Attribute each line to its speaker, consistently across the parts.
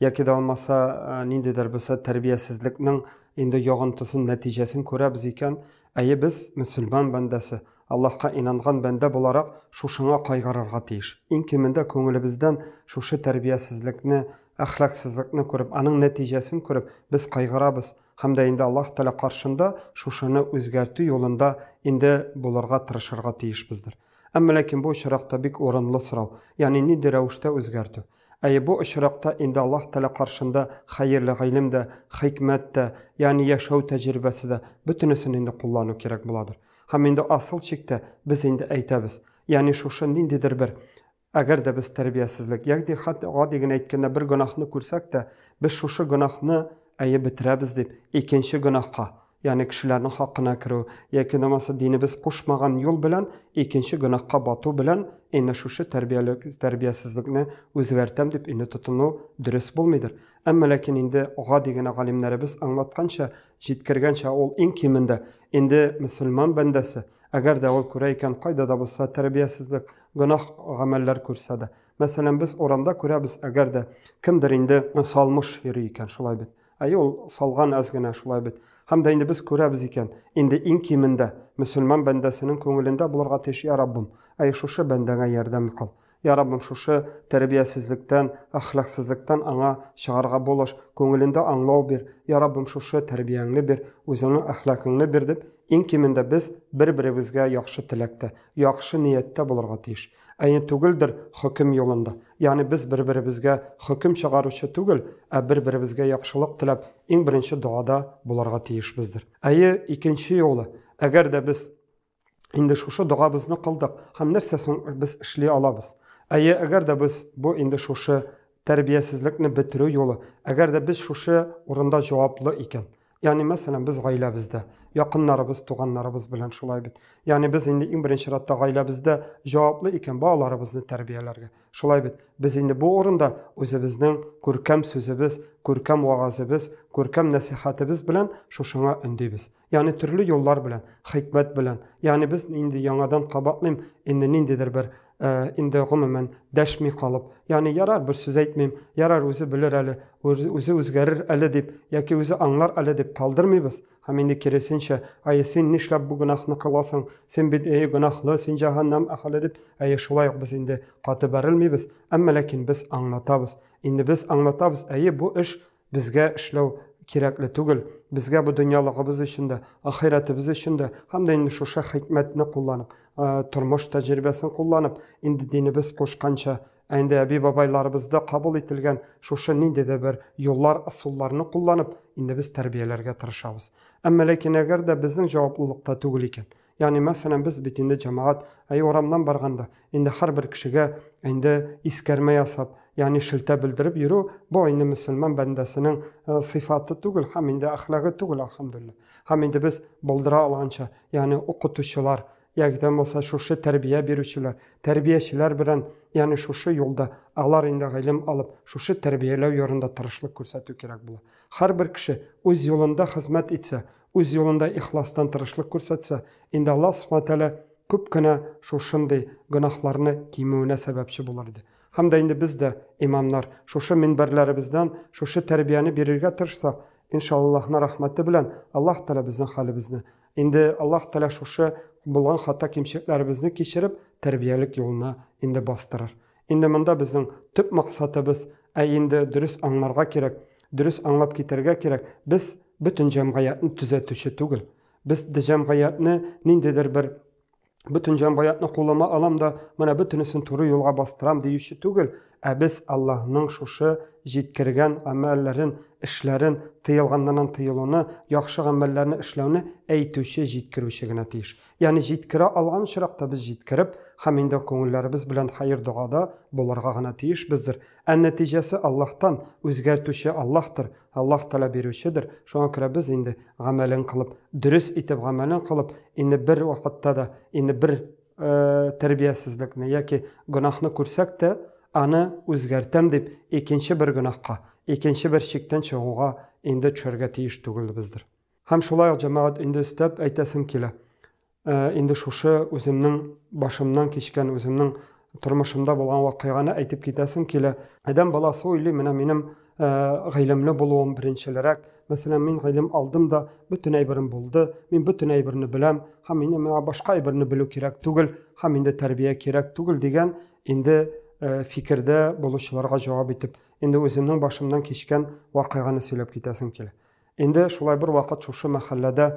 Speaker 1: Яки да алмаса ниндидер булса тәрбиясезлекнең инде ягынтысын, нәтиҗәсен күрәбез икән, әйе без мөселман бәндәсе, Аллаһка инанган бәндә буларак шушыңа кайгырырга тиеш. Иң кимендә күңелебездән шушы тәрбиясезлекне, әхлаксызлыкны күреп, аның нәтиҗәсен күреп, без кайгырабыз һәм дә инде Аллаһ Тәгалә каршында шушыны үзгәртү юлында инде булырга тырышырга тиешбездер. Әмма ләкин бу очракта бик урынлы сорау, ягъни нинди рәвештә үзгәртү? Әйе, бу очракта инде Аллаһ Тәгалә каршында хәерле гыйлем дә, хикмәт тә, ягъни яшәү тәҗрибәсе дә, бөтенесен инде куллану кирәк буладыр. Һәм инде асыл чиктә без инде әйтәбез, ягъни шушы ниндидер бер, әгәр дә без тәрбиясезлек, ягъни хәтта гади генә әйткәндә бер гөнаһны күрсәк тә, без шушы гөнаһны, әйе, бетерәбез дип, икенче гөнаһка, Ягъни кешеләрнең хакына керү, яки намаса динебез кушмаган юл белән икенче гөнаһка бату белән инде шушы тәрбиялек, тәрбиясезлекне үзгәртәм дип инде тотыну дөрес булмыйдыр. Әмма ләкин инде гади генә галимнәребез аңлатканча, җиткергәнчә ул иң кимендә инде мөселман бәндәсе, әгәр дә ул күрә икән кайда да булса тәрбиясезлек, гөнаһ гамәлләр күрсә дә. Мәсәлән, без урамда күрәбез, әгәр дә кемдер инде салмыш йөри икән, шулай бит? Әйе, ул салган әз генә, шулай бит. Һәм дә инде без күрәбез икән, инде иң кимендә мөселман бәндәсенең күңелендә булырга тиеш, Я Раббым, әйе шушы бәндәңә ярдәм кыл. Я Раббым, шушы тәрбиясезлектән, әхлаксызлыктан аңа чыгарга булыш, күңелендә аңлау бир, Я Раббым, шушы тәрбияңне бир, үзеңнең әхлакыңны бир, дип, иң кимендә без бер-беребезгә яхшы теләктә, яхшы нияттә булырга тиеш. Әйе түгелдер хөкем юлында. Ягъни без бер-беребезгә хөкем чыгаручы түгел, ә бер-беребезгә яхшылык теләп, иң беренче догада булырга тиешбездер. Әйе, икенче юлы, әгәр дә без инде шушы догабызны кылдык, һәм нәрсә соң без эшли алабыз? Әйе, әгәр дә без бу инде шушы Тәрбиясезлекне бетерү юлы, әгәр дә без шушы урында җаваплы икән, ягъни, мәсәлән, без гаиләбездә, якыннарыбыз, туганнарыбыз белән шулай бит. Ягъни, без инде иң беренче чиратта гаиләбездә җаваплы икән, балаларыбызны тәрбияләргә. Шулай бит. Без инде бу урында үзебезнең күркәм сүзебез, күркәм вәгазебез, күркәм нәсыйхәтебез белән шушыңа өндибез. Яни төрле юллар белән, хикмәт белән. Яни без инде яңадан кабатлыйм, инде ниндидер бер э, инде гомумән дәшми калып. Яни ярар бер сүз әйтмим, ярар үзе белер әле, үзе үзгәрер әле дип, яки үзе аңлар әле дип калдырмыйбыз. Һәм инде киресенчә, ай син нишләп бу гөнаһны кыласың? Син бит әй гөнаһлы, син җаһаннам әхәле дип, әй шулай ук без инде каты бәрелмибез, әмма ләкин без аңлатабыз. Инде без аңлатабыз, әй бу эш Безгә эшләү кирәкле түгел, безгә бу дөньялыгыбыз өчен дә, ахирәтебез өчен дә һәм дә инде шушы хикмәтне кулланып, тормыш тәҗрибәсен кулланып, инде динебез кушканча, ә инде әби-бабайларыбызда кабул ителгән шушы нинди дә бер юллар, ысулларны кулланып, инде без тәрбияләргә тырышабыз. Әмма ләкин әгәр дә безнең җаваплылыкта түгел икән, Ягъни, мәсәлән, без бит инде җәмәгать, әй, урамнан барганда, инде һәрбер кешегә инде искәрмә ясап, ягъни шелтә белдереп йөрү, бу инде мөселман бәндәсенең сыйфаты түгел һәм инде әхлагы түгел, әлхәмдүлилләһ. Һәм инде без булдыра алганча, ягъни укытучылар, яки дә булмаса шушы тәрбия бирүчеләр, тәрбиячеләр белән, ягъни шушы юлда алар инде гыйлем алып, шушы тәрбияләү ярында тырышлык күрсәтү кирәк була. Һәрбер кеше үз юлында хезмәт итсә, үз юлында ихластан тырышлык күрсәтсә, инде Аллаһ Субхана Ва Тәгалә күп кенә шушындый гөнаһларны кимүенә сәбәпче булыр иде. Һәм дә инде без дә, имамнар, шушы минбәрләребездән шушы тәрбияне бирергә тырышсак, иншаАллаһның рәхмәте белән Аллаһ Тәгалә безнең хәлебезне, инде Аллаһ Тәгалә шушы булган хата-кимчелекләребезне кичереп, тәрбиялек юлына инде бастырыр. Инде монда безнең төп максатыбыз, ә инде дөрес аңларга кирәк, дөрес аңлап китәргә кирәк, без бөтен җәмгыятьне төзәтүче түгел. Без җәмгыятьне ниндидер бер бөтен җәмгыятьне кулыма алам да, менә бөтенесен туры юлга бастырам диюче түгел, ә без Аллаһның шушы җиткергән гамәлләрен, эшләрен, тыелганнардан тыелуны, яхшы гамәлләрне эшләүне әйтүче, җиткерүче генә тиеш. Ягъни җиткерә алган очракта без җиткереп һәм инде күңелләребез белән хәер-догада булырга гына тиешбездер. Ә нәтиҗәсе Аллаһтан, үзгәртүче Аллаһтыр, Аллаһ Тәгалә бирүчедер. Шуңа күрә без инде гамәлен кылып, дөрес итеп гамәлен кылып, инде бер вакытта да, инде бер тәрбиясезлекне яки гөнаһны күрсәк тә, аны үзгәртәм дип, икенче бер гөнаһка, икенче бер чиктән чыгуга инде төшәргә тиеш түгелбездер. Һәм шулай ук, җәмәгать, инде өстәп әйтәсем килә, инде шушы үземнең башымнан кичкән, үземнең тормышымда булган вакыйганы әйтеп китәсем килә. Адәм баласы уйлый, менә минем гыйлемле булуым беренчелерәк. Мәсәлән, мин гыйлем алдым да, бөтен әйберем булды, мин бөтен әйберне беләм, һәм мине миңа башка әйберне белү кирәк түгел, һәм инде тәрбия кирәк түгел дигән инде фикердә булучыларга җавап итеп, инде үземнең башымнан кичкән вакыйганы сөйләп китәсем килә. Инде шулай бер вакыт шушы мәхәлләдә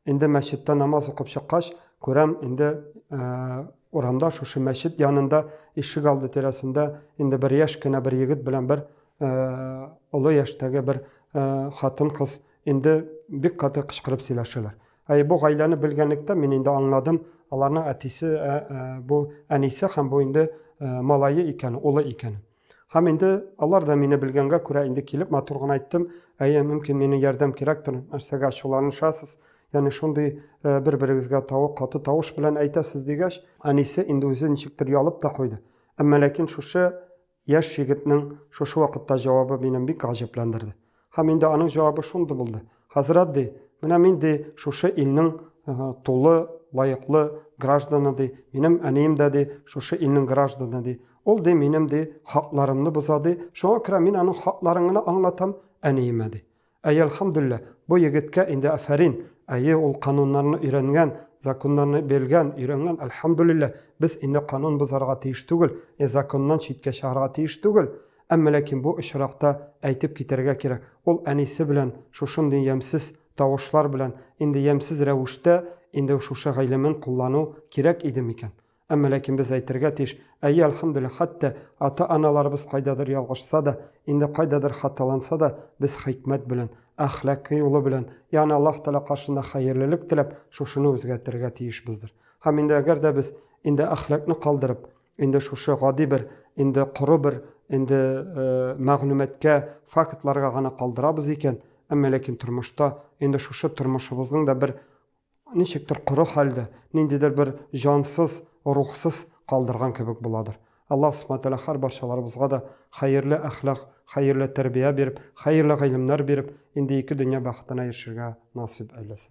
Speaker 1: инде мәчеттә намаз укып чыккач, күрәм, инде урамда шушы мәчет янында ишек алды тирәсендә инде бер яшь кенә бер егет белән бер олы яшьтәге бер хатын кыз инде бик каты кычкырып сөйләшәләр. Әй бу гаиләне белгәнлектә мин инде аңладым, аларның әтисе бу әнисе һәм бу инде малае икән, улы икән. Һәм инде алар да мине белгәнгә күрә инде килеп матур гына әйттем, әйе, мөмкин мине ярдәм кирәктер, нәрсәгә ачуланышасыз, яни шундый э, бер-берегезгә тавык каты тавыш белән әйтәсез дигәч, әнисе инде үзе ничектер ялып та куйды. Әмма ләкин шушы яшь егетнең шушы вакытта җавабы мине бик гаҗәпләндерде. Һәм инде аның җавабы шундый булды. Хәзрәт ди, менә мин ди шушы илнең тулы, лаеклы гражданы ди, минем әнием дә ди шушы илнең гражданы ди. Ул ди минем ди хакларымны боза ди, шуңа күрә мин аның хакларын гына аңлатам әниемә ди. Әй, әлхәмдүлилләһ, бу егеткә инде афәрин, әйе, ул кануннарны өйрәнгән, законнарны белгән, өйрәнгән, әлхәмдүлилләһ, без инде канун бозарга тиеш түгел, законнан читкә чыгарга тиеш түгел. Әмма ләкин бу очракта әйтеп китәргә кирәк, ул әнисе белән шушындый ямьсез тавышлар белән, инде ямьсез рәвештә инде шушы гыйлемен куллану кирәк иде микән? Әмма ләкин без әйтергә тиеш, әйе, әлхәмдүлилләһ, хәтта ата-аналарыбыз кайдадыр ялгышса да, инде кайдадыр хаталанса да, без хикмәт белән, әхлакый юлы белән, ягъни Аллаһ Тәгалә каршында хәерлелек теләп, шушыны үзгәртергә тиешбездер. Һәм инде әгәр дә без инде әхлакны калдырып, Инде шушы гади бер, инде коры бер, инде мәгълүматкә, фактларга гына калдырабыз икән, әмма ләкин тормышта инде шушы тормышыбызның да бер ничектер коры хәлдә, ниндидер бер җансыз, рухсыз калдырган кебек буладыр. Аллаһ Субхаһу Тәгалә һәр барчаларыбызга да хәерле әхлак, хәерле тәрбия биреп, хәерле гыйлемнәр биреп, инде ике дөнья бәхетенә ирешергә насыйп әйләсен.